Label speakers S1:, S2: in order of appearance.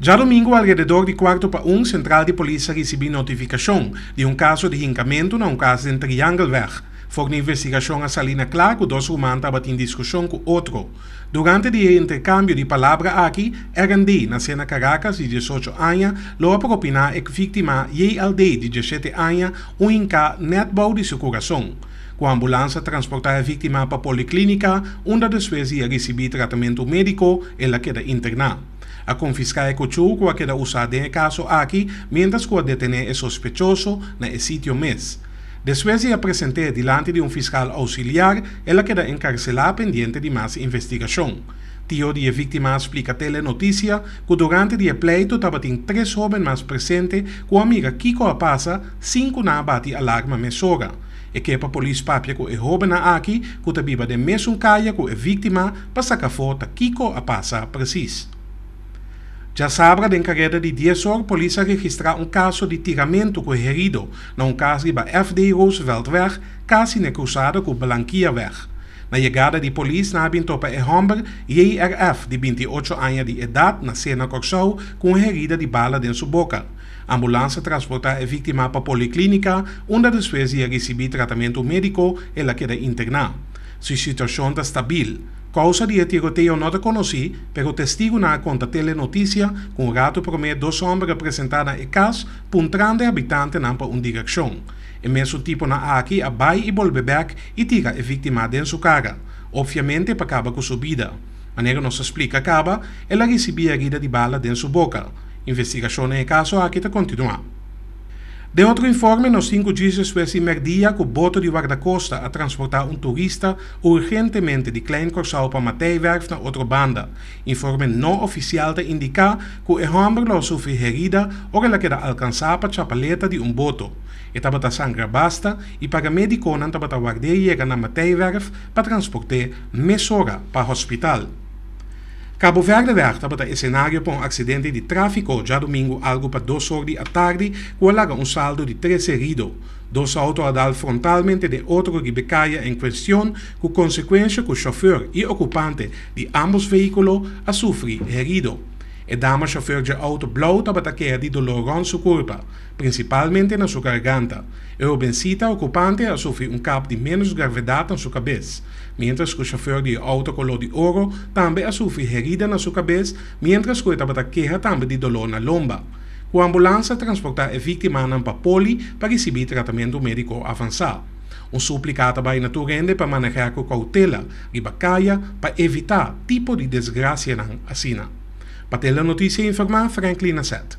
S1: Djadomingu alrededor di kuarto pa un sentral di polis a risibí notifikashon di un kaso di hinkamentu na un kas den Triangelweg. For di investigashon a salí na kla ku dos ruman tabatin diskushon ku otro. Durante di e interkambio di palabra aki, RND, nasé na Karakas, di diesocho aña, lo a propiná ek víktima JLD, di diesete aña, un hinká nèt bou di su kurason. Ku ambulansa a transportá e víktima pa poliklínika, unda despues di a risibí tratamentu médiko, el a keda interná. A konfiská e kuchú ku a keda usá den e kaso aki miéntras ku a detené e sospechoso na e sitio mes. Despues di a present'é dilanti di un fiskal ousiliar, el a keda enkarselá pendiente di mas investigashon. Tio di e víktima a splika Tele Noticia ku durante di e pleito tabatin tres hóben mas presente ku a mira kiko a pasa, Sin cu nan a bati alarma mesora, e ke pa polis papia cu e hobennan aki cu ta biba den mesun caya cu e victima pa saca afo ta kico a pasa precies. Djasabra den careda di dies or polis a registra un caso di tiramento cu e herido na un cas riba FD. Rooseveltweg casi n'e cruzada cu Blanquierweg. Na yegada di polis nan a bin topa e homber JRF di binti ocho aña di edad na Sena Corsou cu un herida di bala den su boca. Ambulansa transportá e víktima pa poliklínika, unda despues di a risibí tratamentu médiko el a keda interná. Su situashon ta stabil. Kousa di e tiroteo no ta konosí, pero testigunan a konta Tele Notisia ku un ratu promé dos hòmber a presentá na e kas puntrando e habitantenan pa un direkshon. E mesun tiponan aki a bai i bolbe bèk i tira e víktima den su kara, opviamente pa kaba ku su bida. Manera nos a splika kaba, el a risibí erida di bala den su boka. Investigashon den e kaso aki ta kontinuá. Den otro informe, nos sinku djistres hues i mèrdia ku boto di Wardakosta a transportá un turista urgentemente di Klein Kòrsou pa Mateiwerf na otro banda. Informe no ofisial ta indiká ku e hòmber lo a sufri herida ora el a keda alkansá pa chapaleta di un boto. E tabata sangra basta i paramédikonan tabata ward'é yega na Mateiwerf pa transport'é mesora pa hospital. Cabo Verde wèg tabata esenario pa un accidente di trafico djadomingo algo pa dos or di atardi cu a laga un saldo di tres herido. Dos auto a dal frontalmente den otro riba e caya en cuestion cu consecuencia cu chauffeur y ocupante di ambos vehiculo a sufri herido. E dama chauffeur dje auto blauw tabata keda di dolor rond su curpa, Principalmente na su garganta. E hobencita ocupante a sufri un kap di menos gravedad na su cabez, mientras cu chauffeur di e auto color di oro tambe a sufri herida na su cabez mientras cu e tabata keha tambe di dolor na lomba, cu ambulance a transporta e victimanan pa Poli pa ricibi tratamento medico avansa. Un suplica ta bay na tur hende pa maneha cu cautela riba caya pa evita tipo di desgracianan asina. Pa te la noticia informa Franklin Asset.